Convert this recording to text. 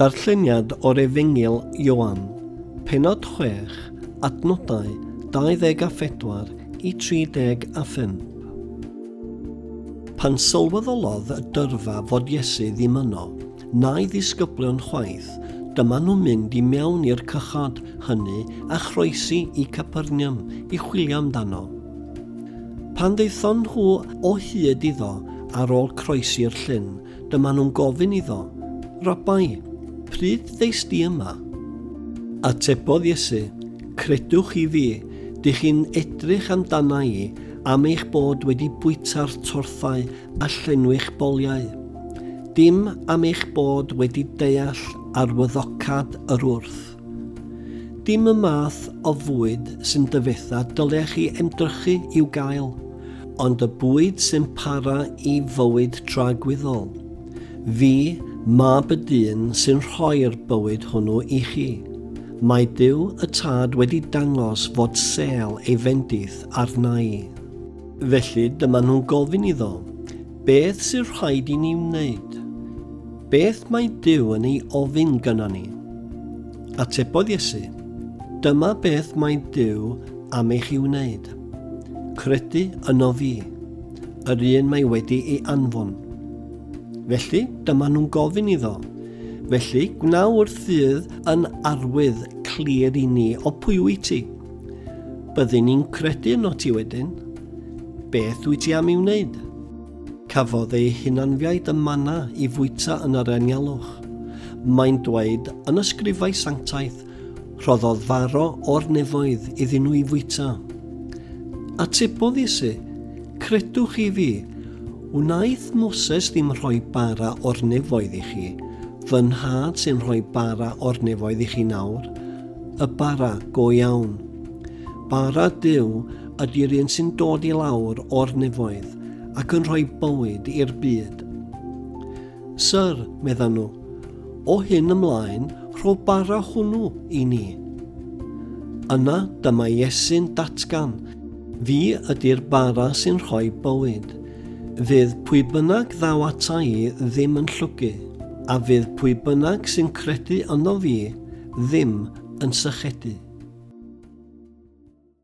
Darlleniad o'r Efengyl Ioan, pennod 6, adnodau 24 i 35. Pan sylweddolodd y dyrfa fod Iesu ddim yno, na'i ddisgyblion chwaith, dyma nhw'n mynd i mewn i'r cychod hynny a chroesi i Capernium i chwilio amdano. Pan ddaethon nhw o hyd iddo ar ôl croesi'r llyn, Dyma nhw'n gofyn iddo, Rabai, pryd ddeis di yma? Atebodd Iesu, Credwch chi fi, dych chi'n edrych amdana i am eich bod wedi bwyta'r torthau a llenwi'ch boliau, dim am eich bod wedi deall arwyddocâd yr wrth. Dim y math o fwyd sy'n dyfetha dylech chi ymdrychu i'w gael, ond y bwyd sy'n para i fywyd tragwyddol. Fi, Mab y dyn sy'n rhoi'r bywyd hwnnw i chi. Mae Duw y Tad wedi dangos fod sêl ei fendith arna i. Felly dyma nhw'n gofyn iddo, Beth sydd rhaid i ni wneud? Beth mae Dyw yn ei ofyn gyda ni? Atebodd Iesu, Dyma beth mae Dyw am eich i wneud. Credu yno fi, yr un mae wedi ei anfon. Felly, dyma nhw'n gofyn iddo. Felly, gwna wrth fydd yn arwydd clir i ni o pwy wyt ti. Byddwn i'n credu yno ti wedyn. Beth wyt ti am i'w wneud? Cafodd ei hunanfiaid y manna i fwyta yn yr anialwch. Mae'n dweud yn y sgrifau sanctaidd, rhoddodd faro o'r nefoedd iddyn nhw i fwyta. Atebodd Iesu, Credwch i fi, wnaeth Moses ddim rhoi bara o'r nefoedd i chi, fy nhad sy'n rhoi bara o'r nefoedd i chi nawr. Y bara go iawn. Bara Duw ydy'r un sy'n dod i lawr o'r nefoedd ac yn rhoi bywyd i'r byd. Sir, meddan nhw, o hyn ymlaen, rho bara hwnnw i ni. Yna dyma Iesu'n datgan, fi ydy'r bara sy'n rhoi bywyd. Fydd pwy bynnag ddaw ata i ddim yn llwgu, a fydd pwy bynnag sy'n credu yno fi ddim yn sychedu.